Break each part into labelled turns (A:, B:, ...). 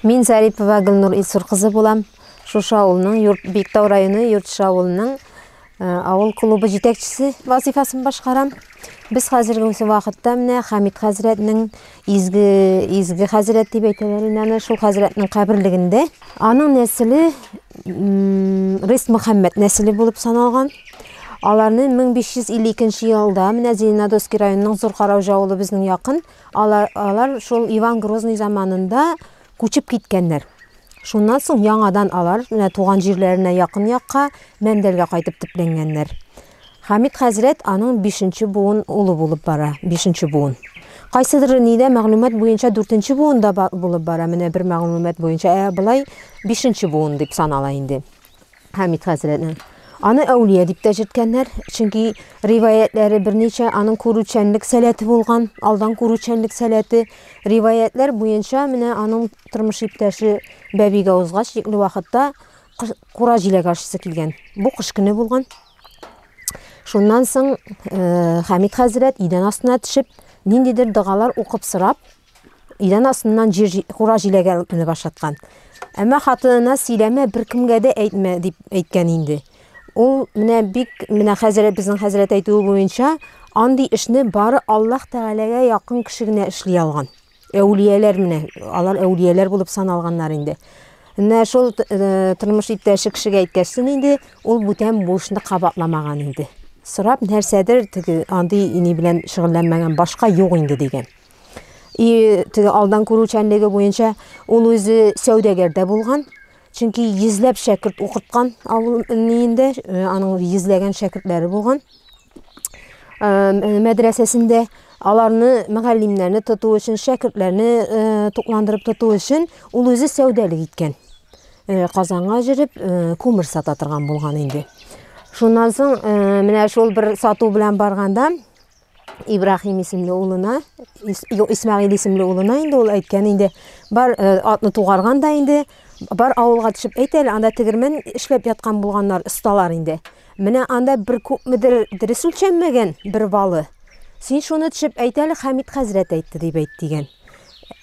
A: Мин Зарипова Гөлнур Илсур кызы булам. Шушы авылның Юрт Биктау районы Юртшы авылының э, авыл клубы җитәкчесе вазифасын башкарам. Без хәзерге вакытта менә Хамид хәзрәтнең изге изге хәзрәт дип әйтәләр инде аны шул хәзрәтнең каберлегендә. Аның нәселе Рис Мөхәммәд нәселе булып саналган. Аларны 1552 елда менә Зеленодольский районының Зур Караужа авылы безнең якын Алар, алар шул Иван Грозный заманында күчеп киткәннәр. Шуннан соң яңадан алар менә туган җирләренә якын якка Мәндәлгә кайтып төпләнгәннәр. Хәмит хәзрәт аның бишенче буын улы булып бара, бишенче буын. Кайсыдыр нидә мәгълүмат буенча дүртенче буын да булып бара, менә бер мәгълүмат буенча, ә болай бишенче буын дип санала инде. Хәмит хәзрәтне. Аны әүлия дип тә җирткәннәр, чөнки риваятләре берничә аның күрүчәнлек сәләте булган, алдан күрүчәнлек сәләте. Риваятләр буенча менә аның тормыш иптәше Бәбигә узгач, тикле вакытта кура җиләк ашысы килгән. Бу кыш көне булган. Шуннан соң э, Хәмит хәзрәт идән астына төшеп, ниндидер дәгалар укып сорап, Идән астыннан җир кура җиләге алып менеп ашаткан. Әмма хатынына сөйләмә, беркемгә дә әйтмә дип әйткән инде. Ул менә бик менә хәзер безнең хәзрәт әйтүе буенча андый эшне бары Аллаһ Тәгаләгә якын кеше генә эшли алган. Әүлияләр менә, алар әүлияләр булып саналганнар инде. Менә шул э, тормыш иптәше кешегә әйткәчсен инде, ул бүтән бу эшне кабатламаган инде. Сорап нәрсәдер теге андый ни белән шөгыльләнмәгән башка юк инде дигән. И теге алдан күрүчәнлеге буенча ул үзе сәүдәгәрдә булган. Чөнки йөзләп шәкерт укыткан авыл инде, э, аның йөзләгән шәкертләре булган. Мәдрәсәсендә аларны мөгаллимнәрне тоту өчен, шәкертләрне э, тукландырып тоту өчен ул үзе сәүдәлек иткән. Э, Казанга җөреп, күмер сата торган булган инде. Шуннан соң менә шул бер сату белән барганда Ибраһим исемле улына, Исмәгыйль исемле улына инде ул әйткән инде, бар э, атны тугарган да инде, бар авылга төшеп әйт әле, анда тегермән эшләп яткан булганнар, осталар инде. Менә анда бер күпмедер дөрес үлчәнмәгән бер балы. Син шуны төшеп әйт әле, Хәмид хәзрәт әйтте дип әйт дигән.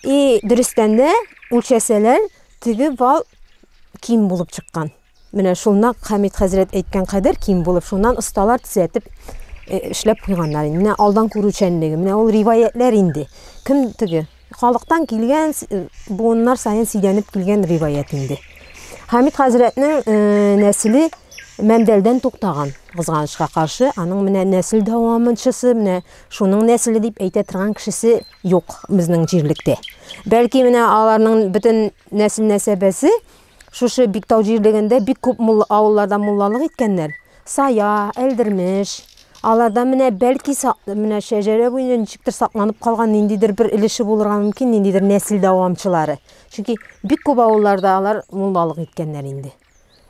A: И дөрестән дә үлчәсәләр, теге бал ким булып чыккан. Менә шул нәкъ Хәмит хәзрәт әйткән кадәр ким булып, шуннан осталар төзәтеп эшләп куйганнар инде. Менә алдан күрүчәнлеге, менә ул риваятьләр инде. Кем теге? Халыктан килгән, буыннар саен сидәнеп килгән риваять инде. Хәмит хәзрәтнең нәселе Мәндәлдән туктаган, кызганычка каршы, аның менә нәсел дәвамынчысы, менә шуның нәселе дип әйтә торган кешесе юк безнең җирлектә. Бәлки менә аларның бөтен нәсел нәсәбәсе Шушы Биктау җирлегендә бик күп мулла авылларда муллалык иткәннәр. Сая, Әлдермеш. Аларда менә бәлки менә шәҗәрә буенча ничектер сакланып калган ниндидер бер өлеше булырга мөмкин, ниндидер нәсел дәвамчылары. Чөнки бик күп авылларда алар муллалык иткәннәр инде.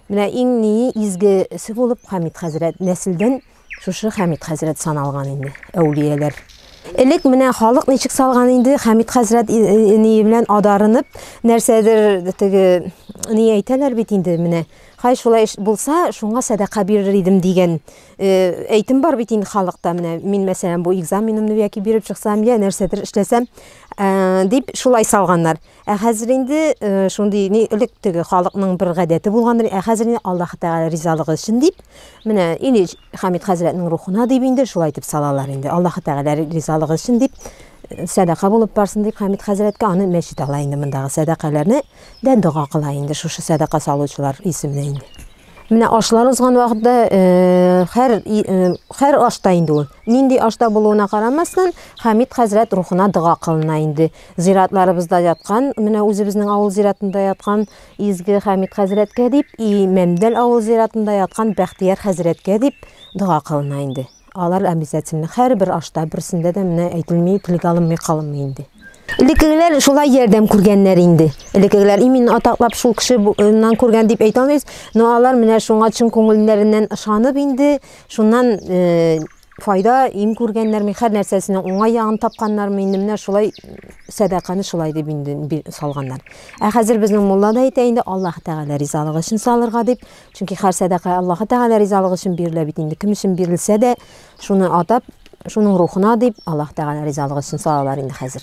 A: Менә иң ни изгесе булып Хамит хәзрәт нәселдән Шушы Хәмит хәзрәт саналган инде, әүлияләр. Элек менә халык ничек салган инде, Хәмит хәзрәт ни белән адарынып, нәрсәдер теге ни әйтәләр бит инде менә. Хай шулай булса, шуңа сәдака бирер идем дигән э, әйтем бар бит инде халыкта менә. Мин мәсәлән бу экзаменымны яки биреп чыксам, я нәрсәдер эшләсәм, э, дип шулай салганнар. Ә хәзер инде э, шундый ни элек теге халыкның бер гадәте булгандыр. Ә хәзер инде Аллаһ Тәгалә ризалыгы өчен дип, менә инде Хамид хәзрәтнең рухына дип инде шулай итеп салалар инде. Аллаһ Тәгалә ризалыгы өчен дип э, сәдака булып барсын дип Хамид хәзрәткә аны мәчет ала инде мондагы сәдакаларны дә дога кыла инде шушы сәдака салучылар исеменә инде. Менә ашлар узган вакытта хәр хәр ашта инде ул. Нинди ашта булуына карамастан, Хамид хәзрәт рухына дога кылына инде. Зиратларыбызда яткан, менә үзебезнең авыл зиратында яткан изге Хамид хәзрәткә дип, и Мәмдәл авыл зиратында яткан Бәхтияр хәзрәткә дип дога кылына инде. Алар обязательно, һәрбер ашта, берсендә дә менә әйтелми, телгә алынмый калынмый инде. Элеккегеләр шулай ярдәм күргәннәр инде. Элеккегеләр именно атаклап шул кешеннән күргән дип әйтә алмыйбыз, но алар менә шуңа чын күңелләреннән ышанып инде, шуннан э, файда, им күргәннәрме, һәр нәрсәсенең уңай ягын тапканнармы, инде менә шулай сәдаканы шулай дип инде салганнар. Ә хәзер безнең мулла да әйтә инде, Аллаһ Тәгалә ризалыгы өчен салырга дип, Чөнки һәр сәдака Аллаһы Тәгалә ризалыгы өчен бирелә бит инде. Кем өчен бирелсә дә, шуны атап, шуның рухына дип Аллаһ Тәгалә ризалыгы өчен салалар инде хәзер.